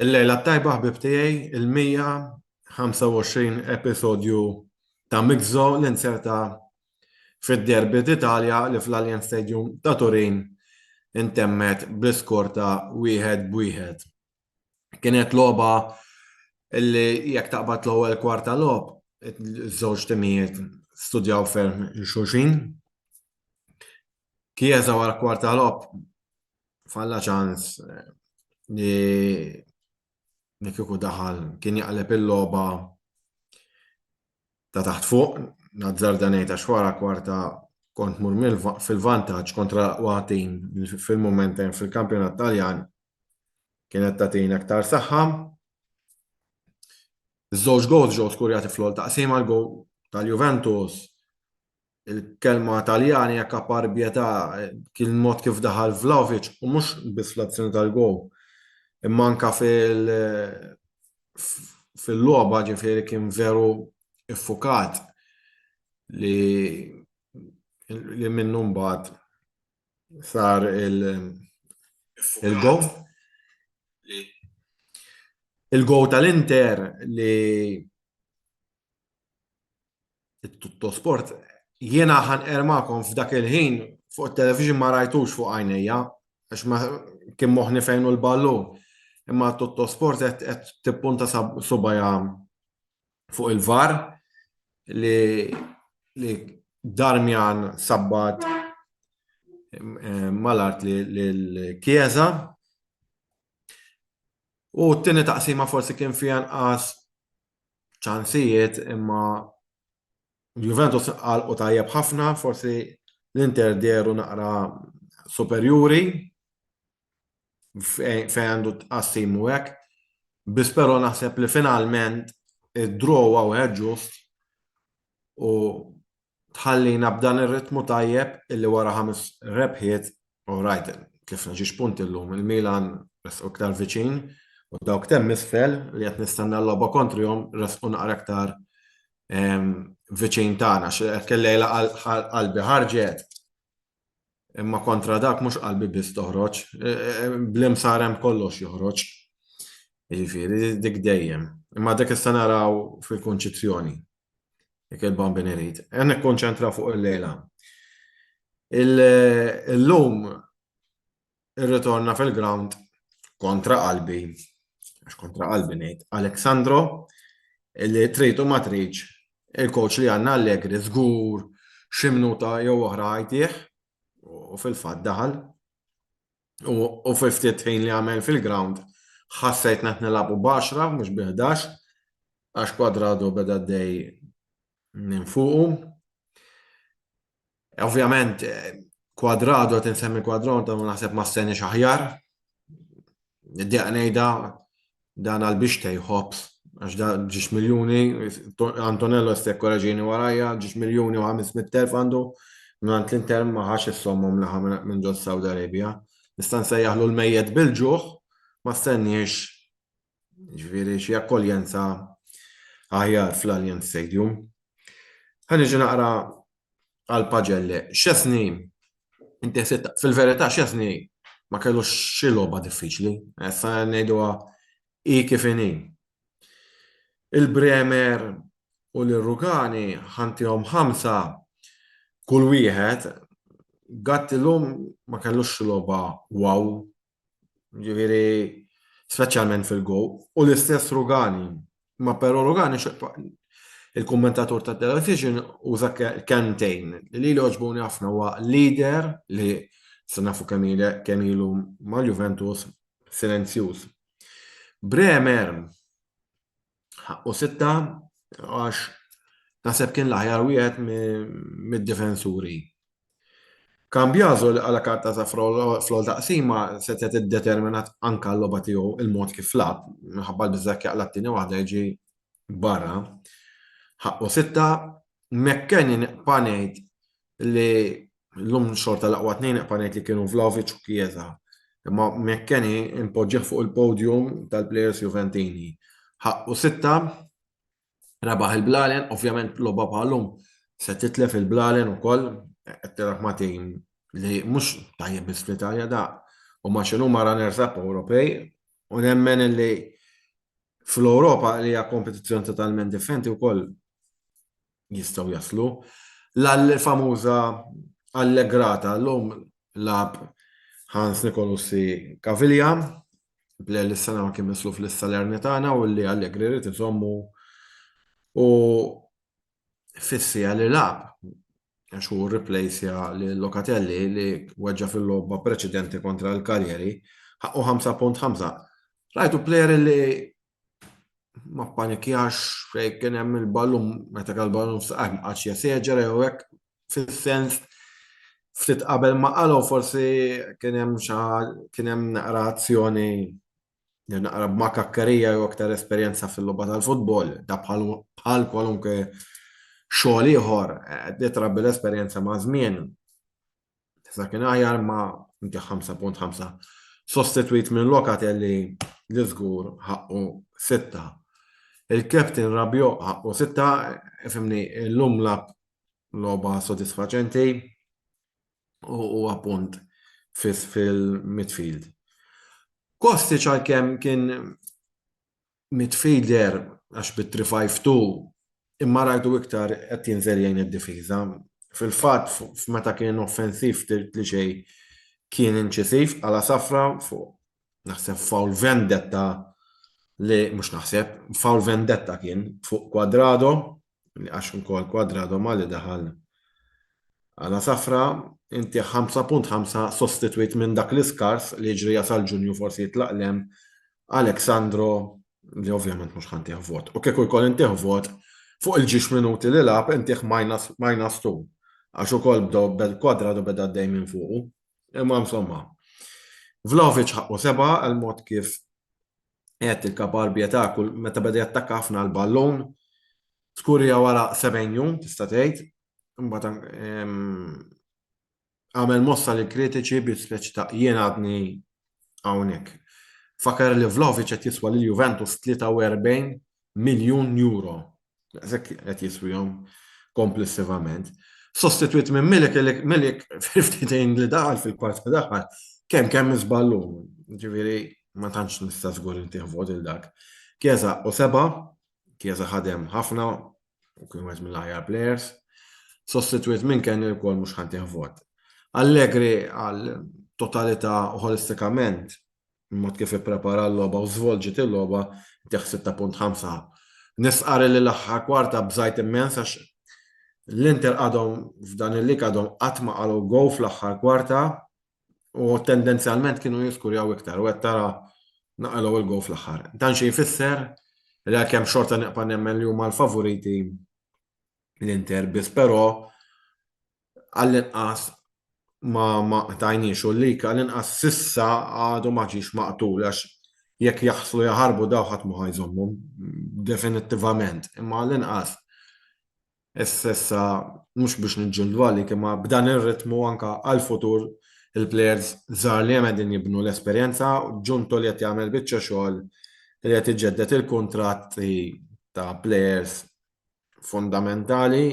Il-lejla tajba ħbib tiegħi il-125 episodju ta' Mixo li nserta fid-derbi d'Italja li fl-Alien Stadium ta' Turin intemmet bl-iskor ta' wieħed b'wieħed. Kienet logħba li jekk taqbad l-ewwel kwarta logħob, iż-żewġ timijiet studjaw ferm il-xulxin. Kieża wara kwarta logħob falla ċans eh, li li kieku daħal kien jaqleb il-logħba ta' taħt fuq, nazzar danejt għax wara kwarta kont mur fil-vantaġġ kontra waħtin fil-momentem fil-kampjonat Taljan kienet tagħtina aktar saħħa. Żewġ gols ġew skurjati fl-ol taqsim għal gow tal-Juventus. Il-kelma Taljani hekk apparbieta kien mod kif daħal Vlaovic u mhux biss fl-azzjoni tal-gow. Imma anka fil fil-logħba ġifieri kien veru iffukat li li minnu mbagħad sar il-go. Il-go tal-Inter li tutto sport jiena ħan ermakom f'dak il-ħin fuq television ma rajtux fuq għajnejja għax ma kien moħni fejnu l-ballu imma tutto sport qed tippunta subajja fuq il-var li li Darmjan sabbat eh, mal-art li l-Kjeza. U t-tini taqsima forsi kien fija nqas ċansijiet imma Juventus għal u tajjeb ħafna, forsi l-Inter deru naqra superjuri. fejn għandu tqassim u hekk. Biss però naħseb li finalment id-draw hawn ġust u tħallina b'dan ir-ritmu tajjeb illi wara ħames rebħiet u rajt tlifna xi xpunti llum il-Milan resqu iktar viċin u dawk temm isfel li qed nistenna l-logħba kontrihom resqu naqra iktar viċin tagħna xi qed kellejla qalbi ħarġet Imma kontra dak mhux qalbi biss toħroġ, bl-imsar hemm kollox joħroġ. Jiġifieri dik dejjem. Imma dik issa naraw fil-Kunċizzjoni. Dik il-Bambin irid. Qed nikkonċentra fuq il-lejla. Illum Irritorna fil-grawnd kontra qalbi, għax kontra qalbi ngħid, Aleksandro li trid u ma tridx il-coach li għandna Allegri żgur xi minuta jew oħra għajtih u fil-fatt daħal u fi ftit ħin li għamel fil-grawnd ħassejt qed nilagħbu b'għaxra mhux bi ħdax għax kwadradu beda dej minn fuqu. Ovvjament, kwadrado qed insemmi kwadron ta' naħseb ma stenix aħjar. Niddeq ngħidha dan għal biex tejħobs għax da ġiex miljuni, Antonello stek koraġini warajja, ġiex miljuni u 500.000 għandu, mingħand l-Inter ma ħax is-sommom li ħa minn ġo Saudi Arabia. Nista' nsejjaħlu l-mejjet bil-ġuħ, ma stenniex Ġifieri xi akkoljenza aħjar fl-Allianz Stadium. Ħaniġi naqra għal Paġelle. Xesni, inti fil-verità xesni ma kellu xi logħba diffiċli. Issa ngħiduha hi kif inhi. Il-Bremer u l-Rugani ħantihom ħamsa kull wieħed Gatt illum ma kellux xi logħba wow Ġifieri speċjalment fil-go u l-istess Rugani. Ma però Rugani il-kummentatur ta' television uża kentejn li li oġbuni ħafna huwa leader li se nafu kemm ilu mal-Juventus silenzjuż. Bremer Ħaqqu sitta għax naħseb kien l-aħjar wieħed mid-difensuri. Cambiaso li qala karta ta' fl-ol taqsima setgħet iddeterminat anke l-logħba tiegħu il-mod kif lab, minħabba l-biżżak jaqla' t-tieni waħda jiġi barra. Ħaqqu sitta, McKennie nibqa' ngħid li l-lum xorta l-aqwa tnejn iqpa' ngħid li kienu Vlahovic u Chiesa. Imma McKenny impoġġih fuq il-podium tal-plejers Juventini. Ħaqqu sitta, rebaħ il-Blalen, ovvjament logħba bħalhom se titlef il-Blalen ukoll qed tiraħ ma' tim li mhux tajjeb biss fl-Italja da u ma' xi huma runners up Ewropej u nemmen li fl-Ewropa li hija kompetizzjoni totalment differenti wkoll jistgħu jaslu. L-famuża Allegrata llum lab Hans Nicolussi Caviglia, bl li s-sena ma kien mislu fl-Salernitana u li Allegri rrit iżommu u fissija li lab għax hu rriplejsja li Locatelli li weġġa fil-logħba preċedenti kontra l-Kaljeri ħaqqu 5.5. Rajtu plejer li ma panikjax fejn kien hemm il-ballum meta kal ballum saqaq ma qatx jeseġera jew hekk fis-sens ftit qabel ma qalgħu forsi kien hemm xi kien hemm naqra azzjoni jew naqra b'makakkerija jew aktar esperjenza fil-logħba tal-futbol, da bħal kwalunkwe xogħol ieħor, eh, ditra bil-esperjenza ma' żmien. Tista' kien aħjar ma inti 5.5 sostituit minn Lokatelli li żgur ħaqqu sitta. Il-Captain Rabio ħaqqu sitta, fimni l-lum lab loba sodisfaċenti u appunt fis fil-midfield. Kosti ċal-kem kien midfielder għax bi three five two imma rajtu iktar qed jinżel jgħin id-difiża. Fil-fatt f'meta kien offensiv ftit li xejn kien inċisiv bħala safra fuq naħseb foul vendetta li mhux naħseb foul vendetta kien fuq Cuadrado. li għax ukoll Kwadrado Mali daħal għala safra, inti 5.5 sostitwit minn dak l-iskars li jiġri jasal Ġunju forsi jitlaqlem Alexandro li ovvjament mhux ħantih vot. U kieku jkoll intih vot fuq il-ġiex minuti li lab intih minus, minus two. Għax ukoll bdew bel kwadra du beda dej minn fuqu. Imma insomma. Vlaovic ħaqqu seba għal mod kif qed il-kaparbja ta' kull meta beda jattakka ħafna l-ballun. Skurja wara 70 jum tista' tgħid. Imbagħad ehm, għamel mossa li kritiċi bi speċi ta' jien għadni hawnhekk. Fakar li Vlovic qed jiswa lil Juventus 43 miljun euro, daqshekk qed jiswihom komplessivament, sostitwit minn Milik li Milik fil-ftehim li daħal fil-kwart li daħal kemm kemm iżball hu. Jiġifieri ma tantx nista' żgur intih vot lil dak. Chiesa u seba', Chiesa ħadem ħafna u kien wieħed mill-aħjar plejers, sostitwit minn Kenny wkoll mhux ħa ntih vot. Allegri għal totalità u ħolistikament il-mod kif ipprepara l-logħba u żvolġiet il-logħba tieħ 6.5. Nisqar li l-aħħar kwarta bżajt immens għax l-Inter għadhom f'dan il-lig għadhom qatt ma qalgħu gow fl-aħħar kwarta u tendenzjalment kienu jiskurjaw iktar u qed tara naqalgħu il-gow fl-aħħar. Dan xi jfisser li għalkemm xorta neqpa' nemmen li huma l-favoriti l-Inter biss però għall-inqas ma ma qtajniex u l-lik għall-inqas sissa għadu ma ġiex maqtul għax jekk jaħslu jaħarbu daw ħadd ma ħajżommhom definittivament. Imma għall-inqas issa mhux biex niġġildu għalik imma b'dan ir-ritmu anke għall-futur il-plejers żgħar li hemm qegħdin jibnu l-esperjenza, Ġunto li qed jagħmel biċċa xogħol li qed iġedded il-kuntratti ta' plejers fundamentali,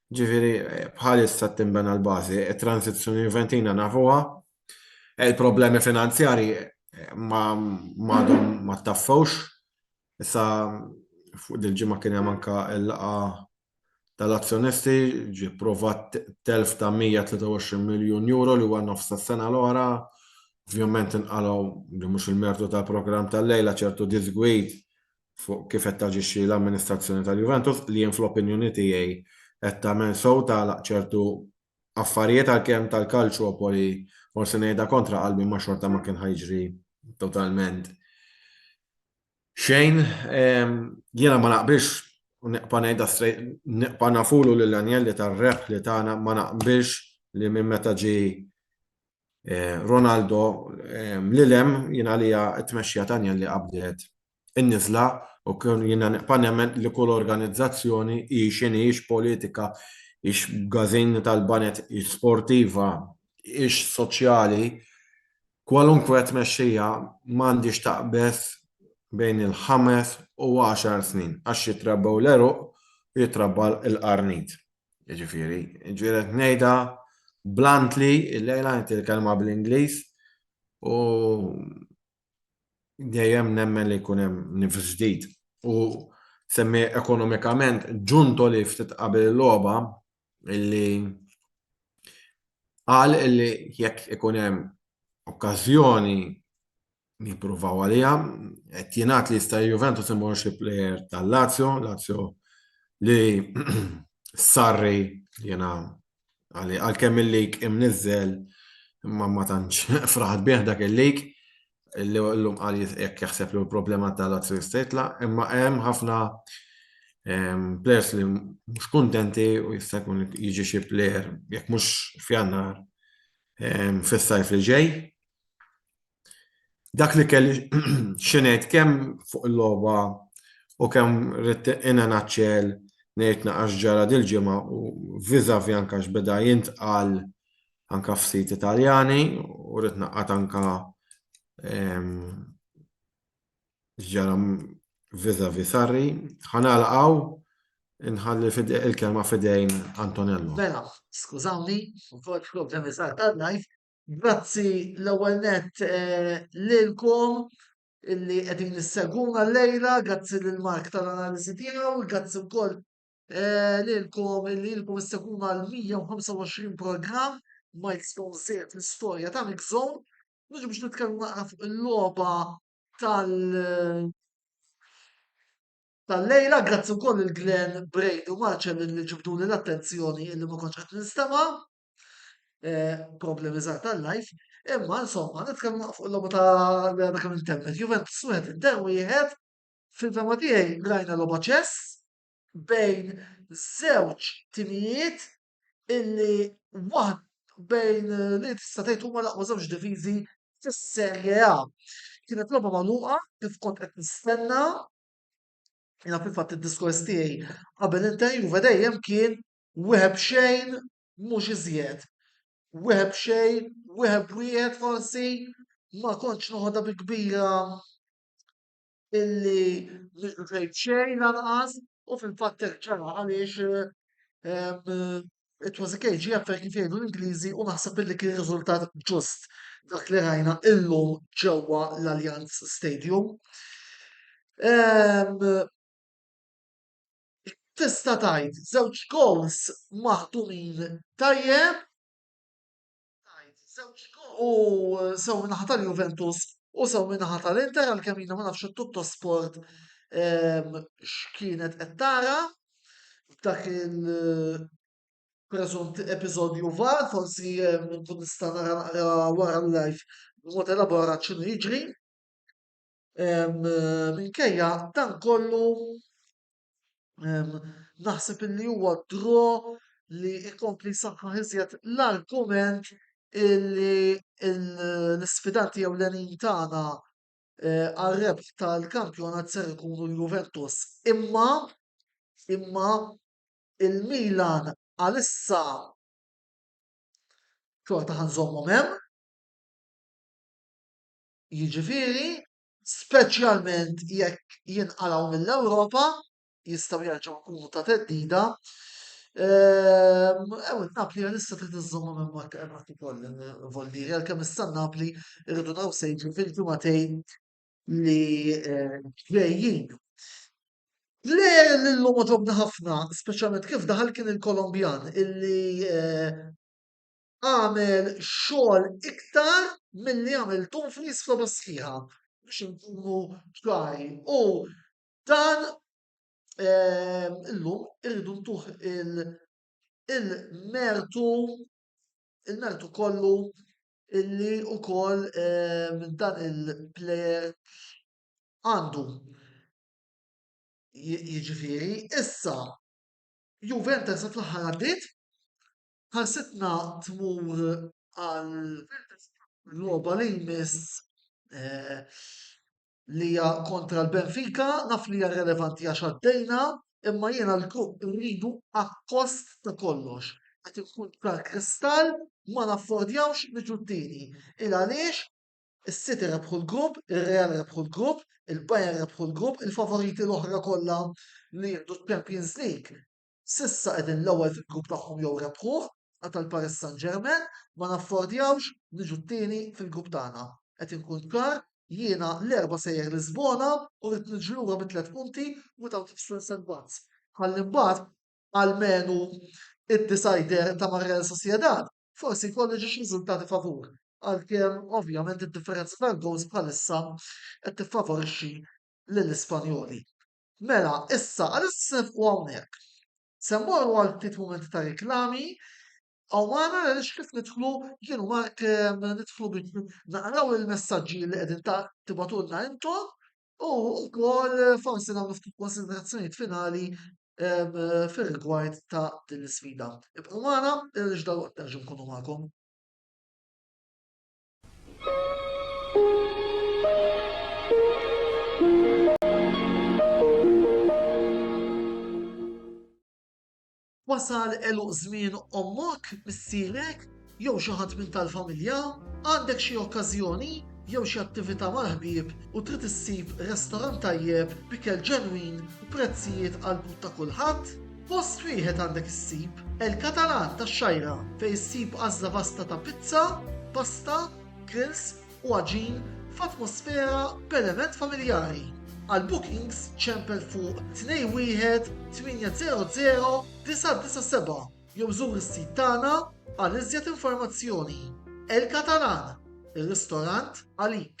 ġifieri bħalissa tinbena l-bażi, it-transizzjoni Juventina nafuha, il-problemi finanzjarji m'għadhom ma taffewx. Issa fuq dil-ġimgħa kien hemm anke l-laqgħa tal-azzjonisti, ġie pprovat telf ta' €123 miljun li huwa nofs tas-sena l-oħra. Ovvjament inqalgħu, li mhux il-mertu tal-programm tal-lejla, ċertu diżgwid fuq kif qed taġixxi l-amministrazzjoni tal-Juventus li jien fl-opinjoni tiegħi qed tagħmel sew tagħlaq ċertu affarijiet għalkemm tal-Calciopoli forsi ngħidha kontra qalbi ma xorta ma kien ħajġri totalment xejn jiena ma naqbilx u neqpa' ngħidha strejt neqpa' nafulu lil Anjelli tar-rebħ li tagħna ma naqbilx li minn meta ġi eh, Ronaldo eh, li lem jien għalija t-tmexxija ta' Anjelli qabdet in-niżla u jiena nibqa' nemmen li kull organizzazzjoni hi x'inhi, hix politika, hix b'gażin tal-baned, hix sportiva, hix soċjali, kwalunkwe tmexxija m'għandhiex taqbeż bejn il-ħames u għaxar snin għax jitrabbew l-għeruq u jitrabba l-qarnit. Jiġifieri, jiġifieri qed ngħidha bluntly illejla, ngħid il-kelma bl-Ingliż u dejjem nemmen li jkun hemm nifs ġdid. U semmi ekonomikament ġunto li ftit qabel il-logħba illi qal illi jekk ikun hemm okkażjoni jippruvaw għalija, qed jingħad li jista' Juventus imur xi plejer tal-Lazio, Lazio li sarri jiena Għalkemm il-lik imniżżel imma ma tantx fraħat bih dak il-lik li llum qal jekk jaħseb li l-problema ta' Lazio jista' jitlaq, imma hemm ħafna players li mhux kuntenti u jista' jkun jiġi xi player jekk mhux f'Jannar fis-sajf li ġej. Dak li kelli xinejt kemm fuq il-logħba u kemm rrid inna naċċel ngħid naqax ġara dil-ġimgħa u viżavi anka x'beda jintqal anka f'sit Italjani u rrid naqgħad anka ġara viżavi Sarri. Ħanalqgħu inħalli il-kelma fidejn Antonello. Mela, skużawni, u kol problemi sar tal-live, Grazzi l-ewwel nett eh, lilkom illi qegħdin isseguna llejla, grazzi lil Mark tal-analiżi tiegħu, grazzi wkoll eh, lilkom illi ilkom isseguna l-125 programm milestone żied l-istorja ta' Mixon, mhux biex nitkellmu naqra fuq il-logħba tal tal-lejla, grazzi wkoll il-Glenn Brady u Marcel li ġibduni l-attenzjoni illi ma kontx qed nistema. eh, problemi żgħar tal-life, imma insomma nitkellmu fuq l-logħba ta' għadha kemm intemmet. Juventus wieħed inter wieħed fil-fema tiegħi rajna logħba ċess bejn żewġ timijiet illi waħd bejn li tista' tgħid huma l-aqwa żewġ diviżi fis-Serje A. Kienet logħba magħluqa kif kont qed nistenna Jena fil-fat il-diskors tiegħi qabel interview dejjem kien Wieħed b'xejn, mhux iżjed. Wieħed b'xejn, wieħed b'wieħed forsi, ma kontx noħodha bi kbira illi nidħlu xejn b'xejn lanqas u fil-fatt hekk ġara għaliex ehm, it was a KGF kif jgħidu l-Ingliżi u naħseb illi kien riżultat ġust dak li rajna illum ġewwa l-Allianz Stadium. Ehm, Tista' tgħid żewġ gowls maħdumin tajjeb u sew min-naħa tal-Juventus u sew min-naħa tal-Inter għalkemm jiena ma nafx it-tutto sport ehm, x'kienet qed tara f'dak il- preżunti episodju var, forsi eh, nkun nista' nara naqra wara l-live b'mod elaborat x'inhu jiġri. Minkejja dan kollu naħseb li huwa dro li jkompli saħħa iżjed l-argument illi l-sfidanti jew l-enin tagħna eh, għal-rebħ tal-kampjonat ser ikunu l-Juventus. Imma, imma il-Milan għalissa xorta ħanżommhom hemm. Jiġifieri, speċjalment jekk jinqalgħu mill-Ewropa, jistgħu jerġgħu jkunu ta' theddida. Ehm, ew Napli għalissa trid iżżomma minn mod temati koll vollieri għalkemm issa Napli rridu naw sejġi fil-ġumatejn li eh, ġejjin. Le l-lum ġobna ħafna, speċjalment kif daħal kien il-Kolombjan illi eh, għamel xogħol iktar milli għamel Dumfries f'logħba sħiħa biex inkunu ċari. U dan ehm, illum irridu ntuħ il-mertu il-mertu kollu illi u koll ehm, dan il-player għandu. Jiġifieri issa Juventus fl-aħħar għaddiet Ħarsitna tmur għal logħba li jmiss li hija kontra l-Benfica, naf li hija relevanti għax għaddejna, imma jiena l-grupp irridu akkost ta' kollox. Qed inkun ċar kristall, ma naffordjawx niġu t-tieni. Il għaliex is-City rebħu l-grupp, ir-Real rebħu l-grupp, il-Bayern rebħu l-grupp, il-favoriti l-oħra kollha li jieħdu ċ-Champions League S'issa qegħdin l-ewwel fil-grupp tagħhom jew rebħuh, qatel Paris Saint-Germain, ma naffordjawx niġu t-tieni fil-grupp tagħna. Qed inkun ċar, jiena l-Erbgħa sejjer Lisbona u rrid niġi lura bi tliet punti without extra setbacks ħalli mbagħad almenu id-decider ta' mar-Real Sociedad forsi jkolli ġiex riżultati favur, għalkemm ovvjament id-differenza tal-gowls bħalissa qed tiffavorixxi lill-Ispanjoli. Mela, issa għaliex qed nifqu hawnhekk? Se mmorru għal ftit mumenti ta' riklami, hawn magħna għaliex kif nidħlu jien u Mark nidħlu biex naqraw il-messaġġi li qegħdin tibgħatulna intom u wkoll forsi nagħmlu ftit konsiderazzjonijiet finali fir-rigward ta' din l-isfida. Ibqgħu magħna għaliex dalwaqt nerġgħu nkunu magħkom. Wasal eluq żmien ommok, missierek, jew xi ħadd minn tal-familja, għandek xi okkażjoni jew xi attività mal-ħbieb u trid issib restorant tajjeb, bikel ġenwin u prezzijiet għal but ta' kulħadd? Post wieħed għandek issib El Catalan tax-Xajra fejn issib għażla vasta ta' pizza, pasta, grills u għaġin f'atmosfera b'element familjari. Għal bookings ċempel fuq 21800 jew żur is-sit tagħna għal iżjed informazzjoni. El Catalan, ir-ristorant għalik.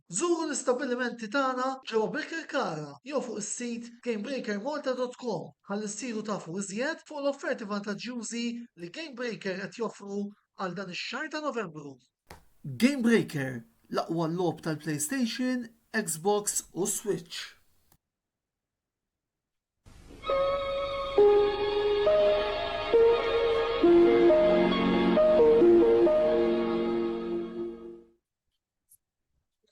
Żuru l-istabbilimenti tagħna ġewwa Birkirkara jew fuq is-sit gamebreakermalta.com ħalli ssiru tafu iżjed fuq l-offerti vantaġġjużi li Gamebreaker qed joffru għal dan ix-xahar ta' Novembru. Gamebreaker, l-aqwa logħob tal-PlayStation, Xbox u Switch.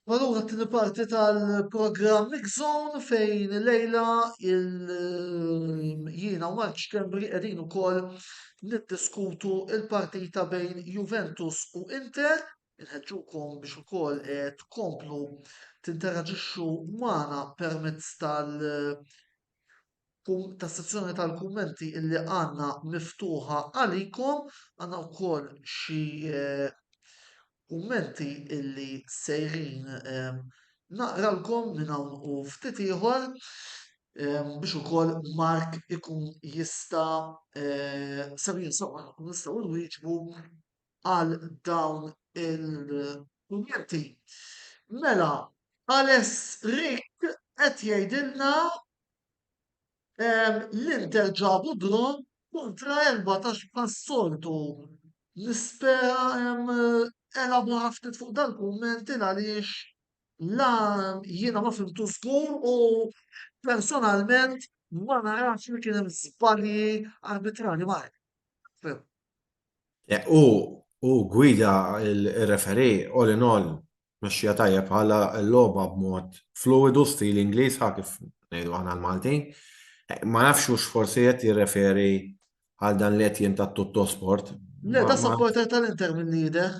Allura t-tieni parti tal-programm Mix Zone fejn lejla jiena u Mark Schembri qegħdin ukoll niddiskutu il-partita bejn Juventus u Inter. Inħeġġukom biex ukoll eh, tkomplu tinteraġixxu magħna permezz tal- tas-sezzjoni tal-kummenti illi għandna miftuħa għalikom, għandna wkoll xi eh, kummenti illi sejrin eh, naqralkom minn hawn u ftit ieħor eh, biex ukoll Mark ikun jista' sejrin sewwa nkun nistgħu nwieġbu għal dawn il-kummenti. Mela, Aless Rick qed jgħidilna L-Inter ġabu draw kontra Elva ta' bħas-soltu nispera elabora ftit fuq dal-kumment il għaliex la jiena ma fimtu żgur u personalment ma narax li kien hemm żbalji arbitrarji ma nafx. Hu gwida r-referee all in all Tmexxija tajjeb bħala l-logħba b'mod fluwidu stil Ingliż ħa kif ngħidu aħna l-Maltin. Ma nafx hux forsi qed jirreferi għal dan li qed jien ta' tutto sport. Le, da supporter tal-Inter minn jidher.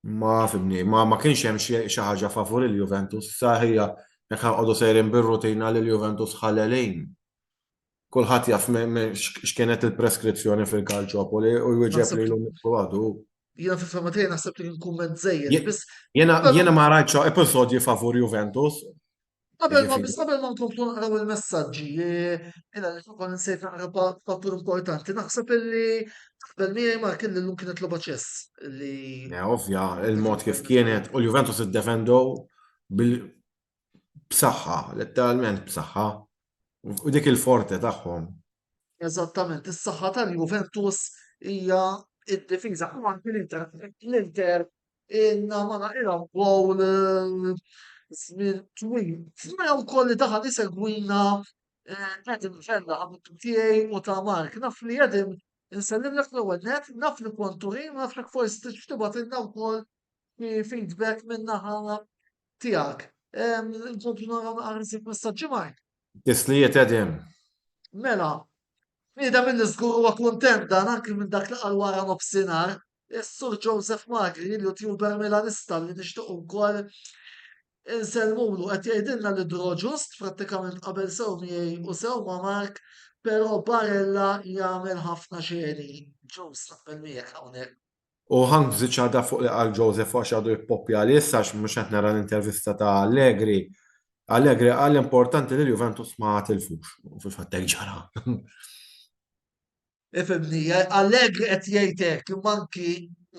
Ma fimni, ma ma kienx hemm xi ħaġa favur il-Juventus, saħija jekk ħanqodu sejrin bir-rutina li l-Juventus ħalelin. Kulħadd jaf x'kienet il-preskrizzjoni fil-Kalċopoli u jwieġeb li l-lum għadu. Jena fil-fema tiegħi naħseb li kumment żejjed. Jena ma rajtx episodji favur Juventus. Qabel ma biss qabel ma nkomplu naqraw il-messaġġi, jena li fuq nsejt naqra fattur importanti, naħseb illi qabel miegħi ma kien l-lum kienet loba ċess li. Ovvja, il-mod kif kienet u l-Juventus iddefendow bil b'saħħa, letteralment b'saħħa, u dik il-forte tagħhom. Eżattament, is-saħħa tal-Juventus hija id-difiża u anke l-Inter. L-Inter inna ma naqilhom gowl eh, żmien twil. Smena wkoll li daħal isegwina Edim eh, ġella għamiltu tiegħi u ta' Mark. Naf li Edim nsellim l ewwel net, naf li kontu ħin, naf li forsi tixtibat inna wkoll feedback minna ħana Tiegħek. Inkomplu naraw naqra nsieb messaġġi Mark. Tislijiet qegħdin. Mela, Nida minn żgur huwa kuntent dan anki minn dak li qal wara nofsinhar, is-Sur Joseph Magri li youtuber Milanista li nixtieq ukoll insellmulu qed jgħidilna li draw ġust prattikament qabel sew miegħi u sew ma' Mark, però Barella jagħmel ħafna xeni. Ġust naqbel miegħek hawnhekk. U Hank f'żiġ għadha fuq li qal Joseph u għax għadu jippoppja li issa għax mhux qed nara l-intervista ta' Allegri. Allegri qal l-importanti li l-Juventus ma tilfux. U fil-fatt hekk ġara. Ifhimni, Allegri qed jgħid hekk, imma anki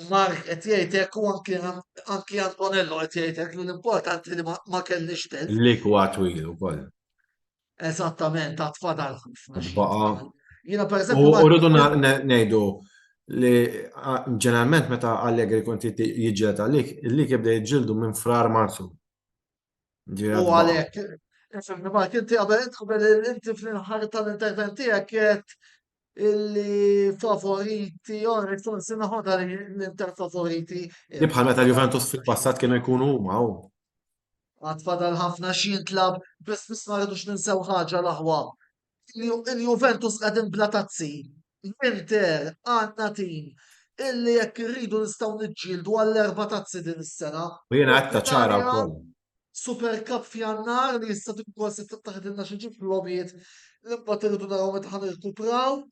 Mark qed jgħid hekk u anki anki Antonello qed jgħid hekk li l-importanti li ma kellniex telf. Li kwa twil ukoll. Eżattament, għad fadal ħafna. Baqa. Jina per eżempju. U rridu ngħidu li ġeneralment meta Allegri kun jiġġieled għalik, li jibda jiġġieldu minn frar marzu. U għalhekk, fimni ma kien qabel qabel inti fl-inħar tal-intervent tiegħek qed illi favoriti, għonek forsi naħodha l-Inter favoriti. Li bħal meta Juventus fil-passat kienu jkunu huma u. Għatfadal ħafna xi jintlab, biss biss ma rridux ninsew ħaġa l-aħwa. Il-Juventus qegħdin bla tazzi. L-Inter għandna tim illi jekk irridu nistgħu niġġieldu għall-erba' tazzi din is-sena. U jiena qed ċara wkoll. Super Cup f'Jannar li jista' tkun kol se taħdilna xi ġib lobiet li mbagħad irridu naraw meta ħan irkupraw.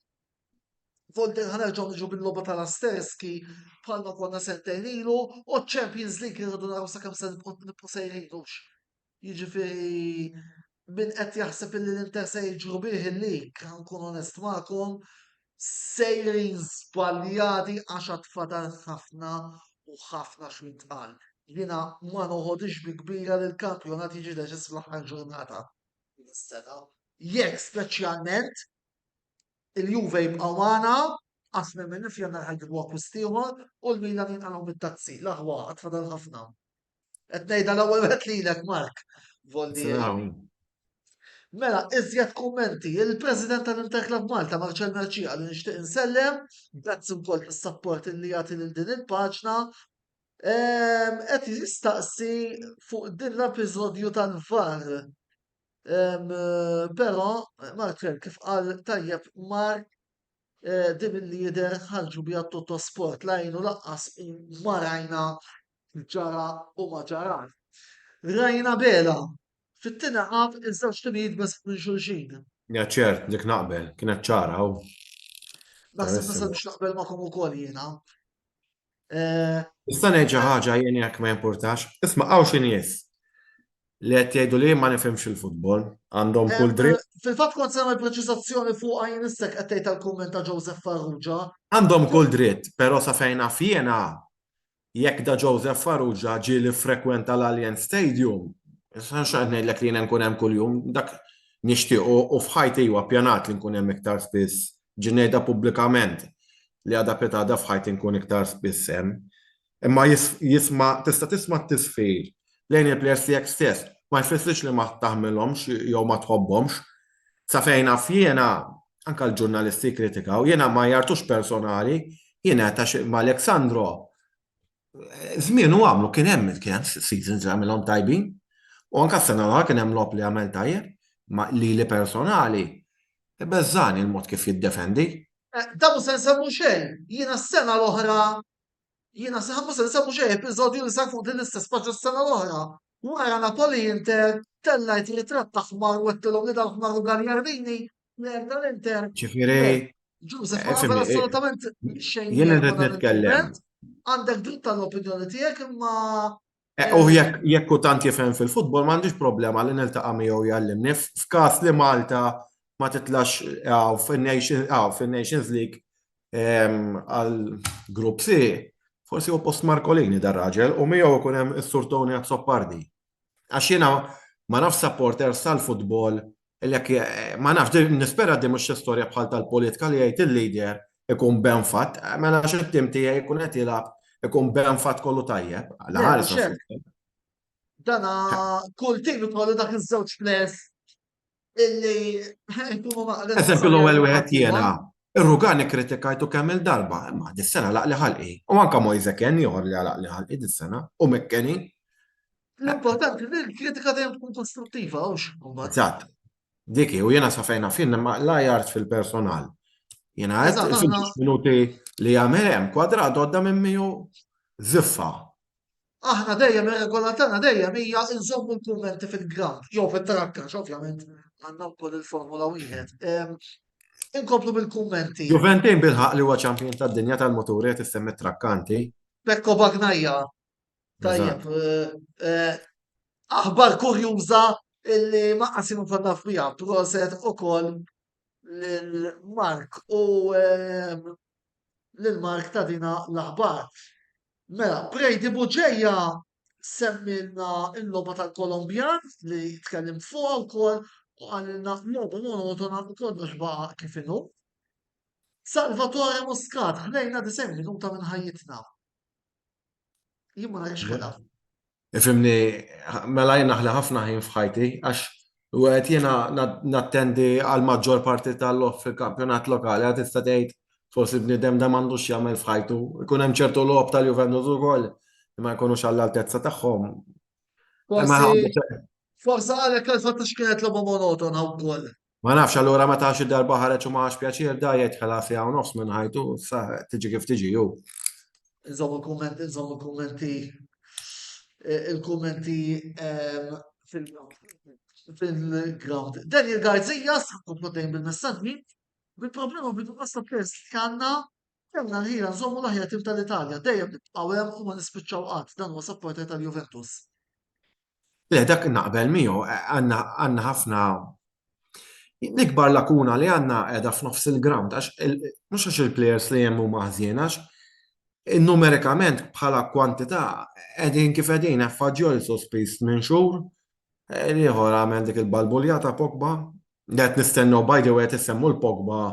Volder ħan nerġgħu niġu bil-logħba tal-Asterski bħalma konna sentejn ilu u Champions League irridu naraw sakemm se nibqgħu sejrinux. Jiġifieri min qed jaħseb illi l-Inter se jiġru bih il-lig, nkun onest magħkom, sejrin żbaljati għax għad fadal ħafna u ħafna xi jitqal. Jiena ma noħodix bi kbira li l-kampjonat jiġi deċiż fl-aħħar ġurnata. Sena, jekk speċjalment il-Juve jibqgħu magħna għax nemmen nifjanna ħajġibu akkwist ieħor u l-Milan jinqalgħu mit-tazzi. L-aħwa għad fadal ħafna. Qed ngħidha l-ewwel wieħed lilek Mark Voldieri. Mela, iżjed kummenti, il-President tal-Interclub Malta, Marcel Merċija, li nixtieq insellem, grazzi wkoll tas-sapport li jagħti lil din il-paġna, ehm, qed jistaqsi fuq din l-episodju tal-var. Ehm, però, Marcel, kif qal tajjeb Mark, eh, din il-lider ħarġu bija tutto sport lajnu laqqas marajna ġara u ma ġarax. Rajna bela fit-tieni ħaf iż-żewġ timijiet biss minn xulxin. Ja ċert, dik naqbel, kienet ċara u. Naħseb nista' biex naqbel magħkom ukoll jiena. Eh, nista' ngħid xi ħaġa jien jekk ma jimpurtax, isma' hawn xi nies li qed jgħidu li ma nifhimx il-futbol, għandhom eh, kull dritt. Eh, fil-fatt kont sema l-preċizazzjoni fuq għajn istek qed tgħid tal-kumment ta' Joseph Farrugia. Għandhom kull dritt, però sa fejna fjena Jekk Da Joseph Farrugia ġie li ffrekwenta l-Allianz Stadium, x'qed ngħidlek li jiena nkun hemm kuljum, dak nixtieq u u f'ħajti iwa ppjanat li nkun hemm iktar spiss, ġi ngħidha pubblikament li għada pitgħada f'ħajti nkun iktar spiss hemm. Imma jisma' tista' tisma' t-tisfir lejn il-plejers tiegħek stess, ma jfissirx li ma taħmilhomx jew ma tħobbhomx, Sa fejn naf jiena, anke l-ġurnalisti jikkritikaw, jiena ma jgħartux personali, jiena għax ma' Alexandro Zmienu għamlu kien hemm kien hemm seasons li għamilhom tajbin. U anka s-sena l kien hemm lob li għamel tajjeb, ma li li personali, beżżani l-mod kif jiddefendi. Eh, Dabu se nsemmu xejn, jiena s-sena l-oħra Jiena naħseb ma se nsemmu xejn episodju li sar fuq din l-istess paġna s-sena l-oħra. Wara Napoli Inter, tellajt ritratt ta' ħmar u għedtilhom li dal-ħmar hu Gagliardini, plejer tal-Inter. Ġifieri. Ġużef, ma nagħmel assolutament xejn. Jien irrid nitkellem. Għandek dritt tal-opinjoni tiegħek imma Eh, u jekk jekk u tant jifhem fil-futbol m'għandix problema li niltaqa' miegħu jgħallimni f'każ li Malta ma titlax eh, fin-Nations eh, fin-Nations League ehm, għal grupp C, forsi u post Markolini dar raġel u miegħu ikun hemm is-Sur Tony Azzopardi. Għax jiena ma nafx supporters tal-futbol Għalhekk ma nafx, nispera din mhux xi storja bħal tal-politika li jgħid il-leader ikun benfatt, mela għax it-tim tiegħi jkun qed jilgħab ikun benfatt kollu tajjeb. Dana kull tim ikollu dak iż-żewġ players illi jkunu maqla. Eżempju l-ewwel wieħed jiena. Ir-Rugani kritikajtu kemm il-darba, imma dis-sena laqli ħalqi. U anka Moise Ken joħor li għalaq li ħalqi dis-sena u Mekkeni. L-importanti li l-kritika dejjem tkun kostruttiva, għawx. Eżatt. Diki, u jena safejna fin, ma la jart fil-personal. Jena għed il-fintux minuti li għamilem, kwadra dodda minn miju ziffa. Aħna dejjem ir-regola tagħna dejjem hija nżommu l-kummenti fil-ground, jew fit-trakka, ovvjament għandna wkoll il-formula wieħed. Inkomplu bil-kummenti. Juventin bilħaq li huwa ċampjon tad-dinja tal-moturi qed issemmi trakkanti. Pekko Bagnajja Tajjeb, eh, aħbar kurjuża illi ma qasimu konna fija, proset u koll l-Mark u eh, l-Mark ta' dina l-aħbar. Mela, Prejdi Buġeja semmilna il-loba tal-Kolombjan li tkellim fuq u koll u għalilna loba monotona u kollox baqa kif inhu. Salvatore Muscat, ħlejna 90 minuta minn ħajjitna. Jien ma rajx ħela. Ifimni, mela jien naħli ħafna ħin f'ħajti, għax u għet jena nattendi għal maġġor parti tal-lof fil-kampjonat lokali, għat tista' tgħid forsi bnidem da m'għandux jagħmel f'ħajtu. Ikun hemm ċertu lob tal-Juventus ukoll ma jkunux għall-altezza tagħhom. Forsi għalhekk għal fatt x'kienet logħba monotona wkoll. Ma nafx allura meta xi darba ħareġ u ma ħax pjaċir da jgħid ħela siegħa u nofs minn ħajtu, sa tiġi kif tiġi hu. Inżommu kumment, inżommu kummenti eh, il-kummenti ehm, fil-ground. Daniel Garzija, s-sakkum dejjem bil-messagġi, bil-problema bil-pasta pers li għanna, kemna l-ħira nżommu l-ħira tim tal-Italja, dejjem nibqaw hemm u ma nispiċċaw qatt, dan huwa sapporter tal-Juventus. Le, dak naqbel miegħu, għandna ħafna l-ikbar lakuna li għandna qiegħda f'nofs il-ground għax mhux għax il-plejers li hemm huma ħżiena għax numerikament bħala kwantità qegħdin kif qegħdin Effaġjol sospiż minn xhur, ieħor għamel dik il-balbuljata Pogba Qed nistennew, by the way qed issemmu l Pogba,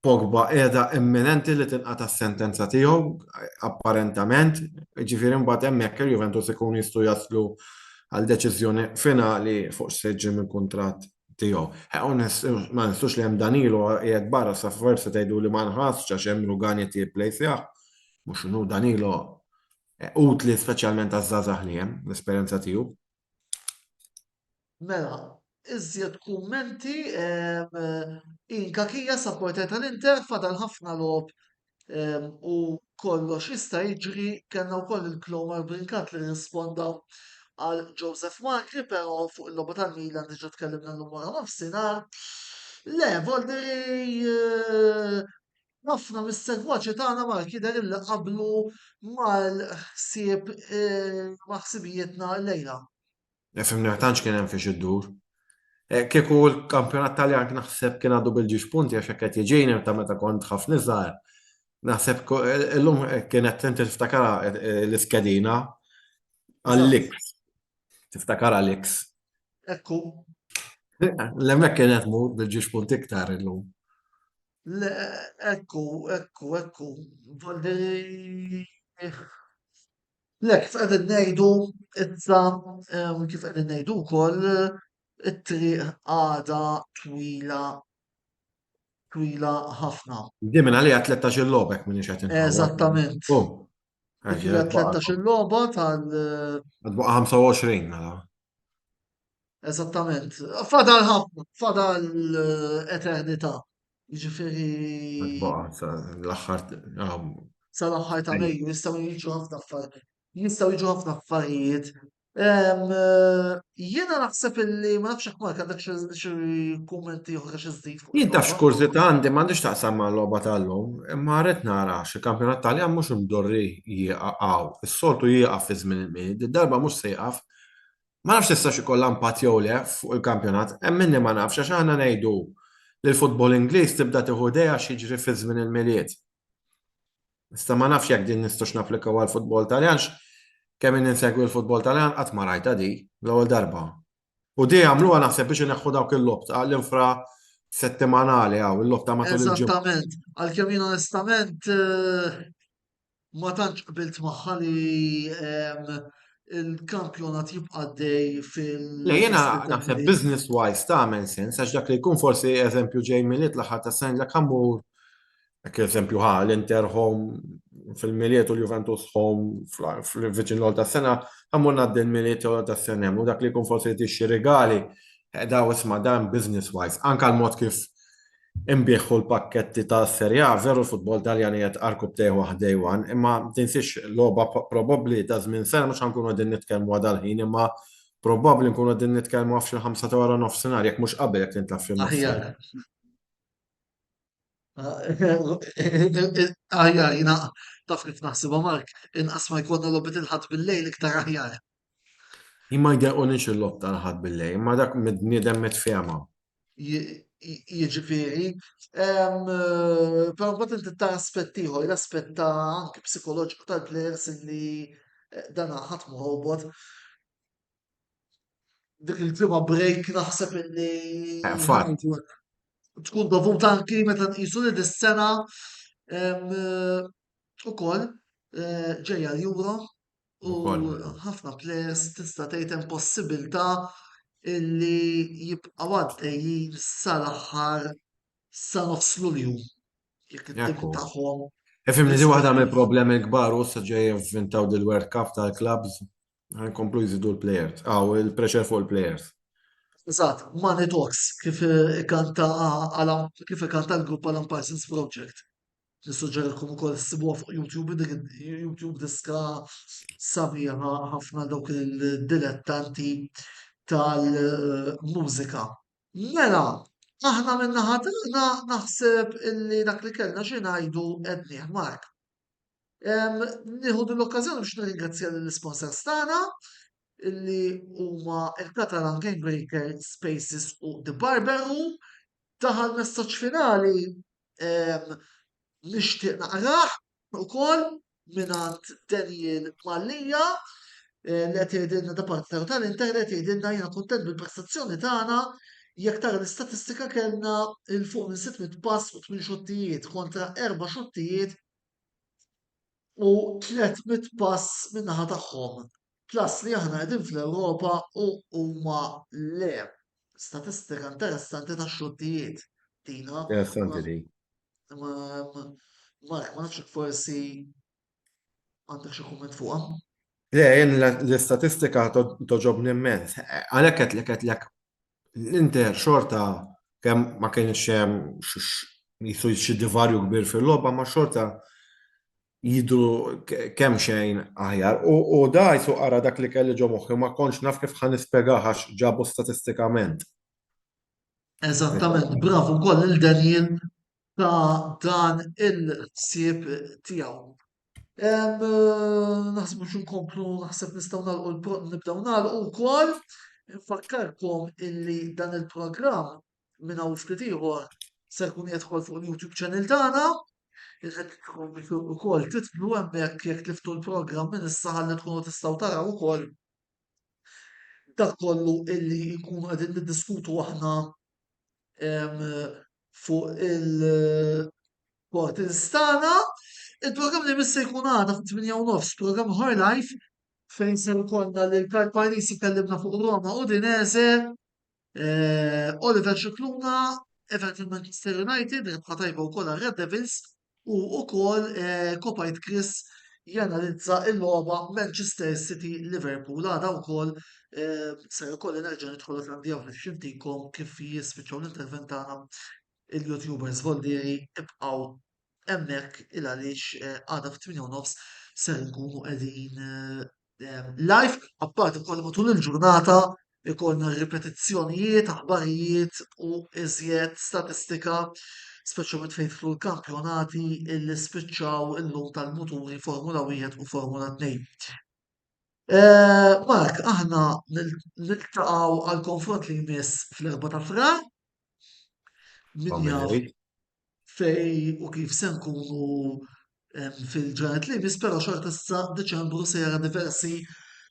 Pogba qiegħda imminenti li tinqata' s-sentenza tiegħu apparentament, jiġifieri mbagħad hemmhekk il-Juventus ikunu jistgħu jaslu għal deċiżjoni finali fuq x'se ġġib mill-kuntratt tiegħu. Ma ninsux li hemm Danilo qiegħed barra sa forsi tgħiduli ma nħassx għax hemm Rugan qed jirreplaceah, mhux inhu Danilo utli speċjalment għaż-żgħażagħ li hemm, l-esperjenza tiegħu. Mela, iżjed kummenti, Inkakija sa porter tal-Inter fadal ħafna logħob u kollox jista' jiġri, kellna wkoll il-Clomar Brincat li rrisponda għal Joseph Magri, però fuq il-logħba tal-Milan diġà tkellimna llum wara nofsinhar. Le, Volderi eh, Ħafna mis-segwaċi tagħna Malti jidher illi qablu mal-ħsieb ma' ħsibijietna llejla. Fimni tantx kien hemm fiex iddur. Kieku l-kampjonat Taljan naħseb kien għadu bil-ġiex punti għax hekk qed jiġini ta' meta kont ħafna iżgħar. Naħseb illum kienet inti tiftakarha l-iskedina għall-X. Tiftakarha l-X. Ekku. L-hemmhekk kienet mur bil-ġiex punti iktar illum. Le, ekku, ekku, ekku, volli. Le, kif qegħdin ngħidu issa, kif qegħdin ngħidu wkoll, it-triq għadha twila twila ħafna. Di minn għalija 13 lobek minn ixħet. Eżattament. Għalija 13 loba tal. Għadbuqa 25 mela. Eżattament. Fadal ħafna, fadal eh, eternità. Ġifiri. L-axħar. Sa l-axħar ta' Mejju jistaw jiġu ħafna affarijiet. Jistaw jiġu ħafna affarijiet. Eh, Jena naħseb illi ma nafx ma għandek xi kummenti oħra xi żdid. Jien taf x'kurzita għandi m'għandix taqsam ma' logħba tal-lum, imma rrid nara xi kampjonat Taljan mhux imdorri jieqgħu. Is-soltu jieqaf fi żmien il-mid, darba mhux se jieqaf Ma nafx tistax ikollha impatt jew le fuq il-kampjonat, hemm minni ma nafx għax aħna ngħidu li l-futbol Ingliż tibda tieħu idejha x'jiġri fi żmien il-Milied. Issa ma nafx jekk din nistgħux napplikaw għall-futbol Taljan għax kemm inni nsegwi l-futbol Taljan qatt ma rajtha di l-ewwel darba. U di għamluha naħseb biex ineħħu dawk il-logħob l-infra settimanali hawn il-logħob ta' matul il-ġimgħa. Eżattament, għalkemm jien onestament eh, ma tantx qbilt magħha li ehm, il-kampjonat jibqa' dej fil. Le jiena naħseb business wise ta' men sens għax dak li jkun forsi eżempju ġej mill-it l-aħħar ta' sen dak ħammur Ek eżempju ħa l-Inter home fil-miliet u l-Juventus home fil-viċin l ta' sena, għamur naddi l-miliet u ta' sena, u dak li kun forsi tixi regali, eh, daw isma dan business-wise, anka l-mod kif Inbih u l-pakketti ta' Serie A, veru l-futbol Taljan qiegħed arku b'tejh waħd day one, imma tinsiex logħba probabbli ta' żmien sena mhux ħa nkunu qegħdin nitkellmu għal dal-ħin imma probabbli nkunu qegħdin nitkellmu għaf xi ħamsa ta' wara nofsinhar jekk mhux qabel jekk tintlagħab f'xi nofsinhar. Aħjar jiena taf kif naħsibha Mark, inqas ma jkollna logħbiet il-Ħadd bil-lejl iktar aħjar. Jien ma jdeqquniex il-logħob tal-Aħad billejl, imma dak mill-bniedem mitfiehma. Jiġifieri, però mbagħad inti ta' aspett ieħor, l-aspett ta' anke psikoloġiku tal-plejers li eh, dan ħadd mħobot dik il-ġimgħa break naħseb illi eh, tkun dovut anki meta nqisu li dis-sena eh, ukoll eh, ġejja l-Euro U ħafna players tista' tgħid hemm possibilità illi jibqgħu għaddejjin sal-aħħar sa nofs Lulju. Jekk it-tim tagħhom. Ifimni di waħda mill-problemi l-kbar u sa ġej jivvintaw dil-World Cup tal-clubs ħankomplu jżidu l-players, għaw il-pressure fuq il-players. Eżatt, Money Talks, kif ikanta kif ikanta l-grupp Alan Parsons Project. Nissuġġerilkom ukoll ssibuha fuq YouTube, dik YouTube diska sabiħa ħafna dawk il-dilettanti tal-mużika. Mela, aħna minna ħatana naħseb illi dak li kellna xi ngħidu qednieh Mark. Nieħu din l-okkażjoni biex nirringrazzja lill-isponsors tagħna illi huma il-Catalan Game Breaker Spaces u The Barber Room. Taħal messaġġ finali nixtieq naqrah ukoll mingħand Daniel Mallia eh, li qed jgħidilna da partner tal-internet jgħidilna jiena kuntent bil-prestazzjoni tagħna jekk tara l-istatistika kellna il fuq minn 600 pass u 8 xottijiet kontra 4 xottijiet u tliet mitt pass min-naħa tagħhom, plus li aħna qegħdin fl-Ewropa u huma le. Statistika interessanti ta' xortijiet din ha. Interessanti din. Mark, ma nafx jekk forsi għandek xi kumment fuqha. Le, jien l-istatistika toġobni immens. Għalhekk qed lek qed lek l-Inter xorta kemm ma kienx hemm jisu xi divarju kbir fil-logħba ma xorta jidru kemm xejn aħjar. U da jisu ara dak li kelli ġo moħħi ma kontx naf kif ħan nispjegah għax ġabu statistikament. Eżattament, bravu wkoll lil Daniel ta' dan il-ħsieb tiegħu. Naħsbu xi nkomplu naħseb nistgħu nagħlqu nibdew nagħlqu wkoll. Infakkarkom illi dan il-programm minn hawn ftit ieħor se jkun jidħol fuq il-YouTube channel tagħna. Irridkom ukoll titlu hemmhekk jekk tiftu l-programm minn issa ħalli tkunu tistgħu taraw ukoll dak kollu illi jkunu qegħdin niddiskutu aħna fuq il-portals tagħna. Il-programm li jmiss se jkun għada fit-8 u nofs, programm Her Life, fejn se jkollna lil Karl Parisi kellimna fuq Roma u Dinese, eh, Oliver Xikluna, Everton Manchester United, rebħa tajba wkoll għal Red Devils, u wkoll kopajt Chris janalizza l-logħba Manchester City Liverpool għada wkoll se jkolli nerġa' nidħol għandi hawn biex intikom kif jispiċċaw l-intervent tagħna il-YouTubers Voldieri ibqgħu hemmhekk il għaliex għada fit-8 nofs se nkunu qegħdin live, apparti wkoll matul il-ġurnata ikollna ripetizzjonijiet, aħbarijiet u iżjed statistika, speċjalment fejn jidħlu l-kampjonati illi spiċċaw illum tal-muturi Formula 1 u Formula 2. Eh, Mark, aħna niltaqgħu għal konfront li jmiss fl-4 ta' frar. Min jaf, fejn u kif se nkunu fil-ġranet li jmiss, però xorta issa Deċembru se jara diversi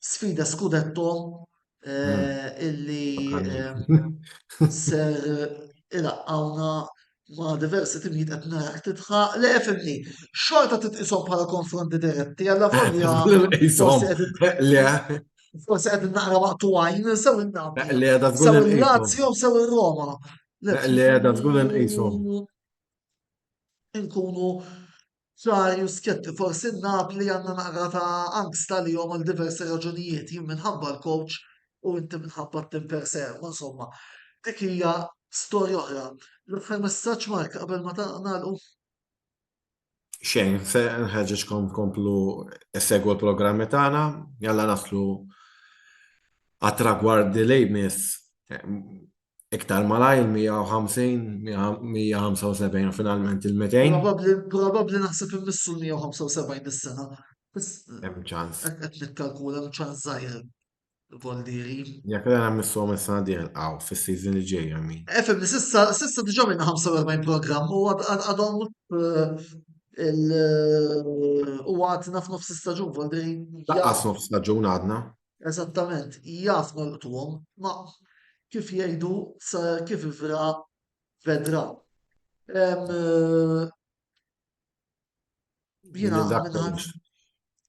sfida skudetto eh, illi eh, ser ilaqqawna ma' diversi timijiet qed narak titħaq le fimni. Xorta titqishom bħala konfronti diretti għalla volja. Le, Forse qed naqra waqtu għajn sew il-Napoli. Le, da żgur Sew li nqisu. il-Lazio sew il-Roma. Li għedha tkun inqishom. Inkunu ċari u skjetti, forsi Napli għandna naqra ta' angst għalihom għal diversi raġunijiet, jien minħabba l-coach u inti minħabba t-tim per se, u insomma, dik hija storja oħra. L-aħħar messaġġ Mark qabel ma ta' nagħlqu. xejn, se nħeġġeġkom tkomplu segwu l-programmi tagħna, jalla naslu għat-tragwardi li jmiss iktar malajr 150-175 finalment il-200. Probabbli naħseb immissu l-175 dis-sena. Hemm ċans. Qed nikkalkula hemm ċans żgħir. Voldieri. Jekk l-għana missu minn sena diħel għaw, fil-season li ġejja mi. Efem, eh, sissa, sissa diġa minna 45 program u għadhom eh, il- u għadna f'nofs staġun, Voldieri. Daqqas nofs staġun għadna. Eżattament, jaf nolqtuhom, ma kif jgħidu sa kif ivra vedra. Eh, Jina għamil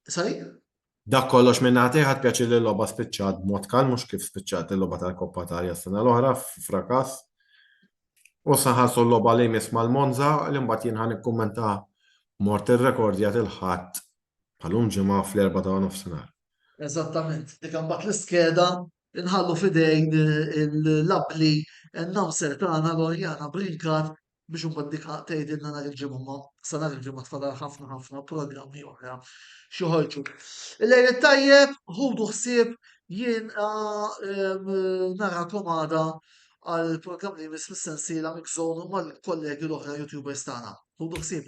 Sorry? Dak kollox minn għati ħad pjaċi li l-loba spiċċat b'mod kal mhux kif spiċċat il-loba tal-Koppa Italja s-sena l-oħra f'frakas. U saħalsu l-loba li jmiss mal-Monza li mbagħad jien ħan ikkummenta mort ir-rekordja il-ħadd bħalum ġimgħa fl-erba ta' nofsinhar. Eżattament, dik mbagħad l-iskeda inħallu fidejn l-abli n-namser tagħna l-orjana brinkat biex imbagħad dik tgħidilna nhar il-ġimgħa ma sa nhar il-ġimgħa tfadal ħafna ħafna programmi oħra xoħorġu. Il-lejl tajjeb, ħudu ħsieb jien narakom għada għal program li jmiss fis-sensiela mikżonu mal-kollegi l-oħra YouTubers tagħna. Ħudu ħsieb.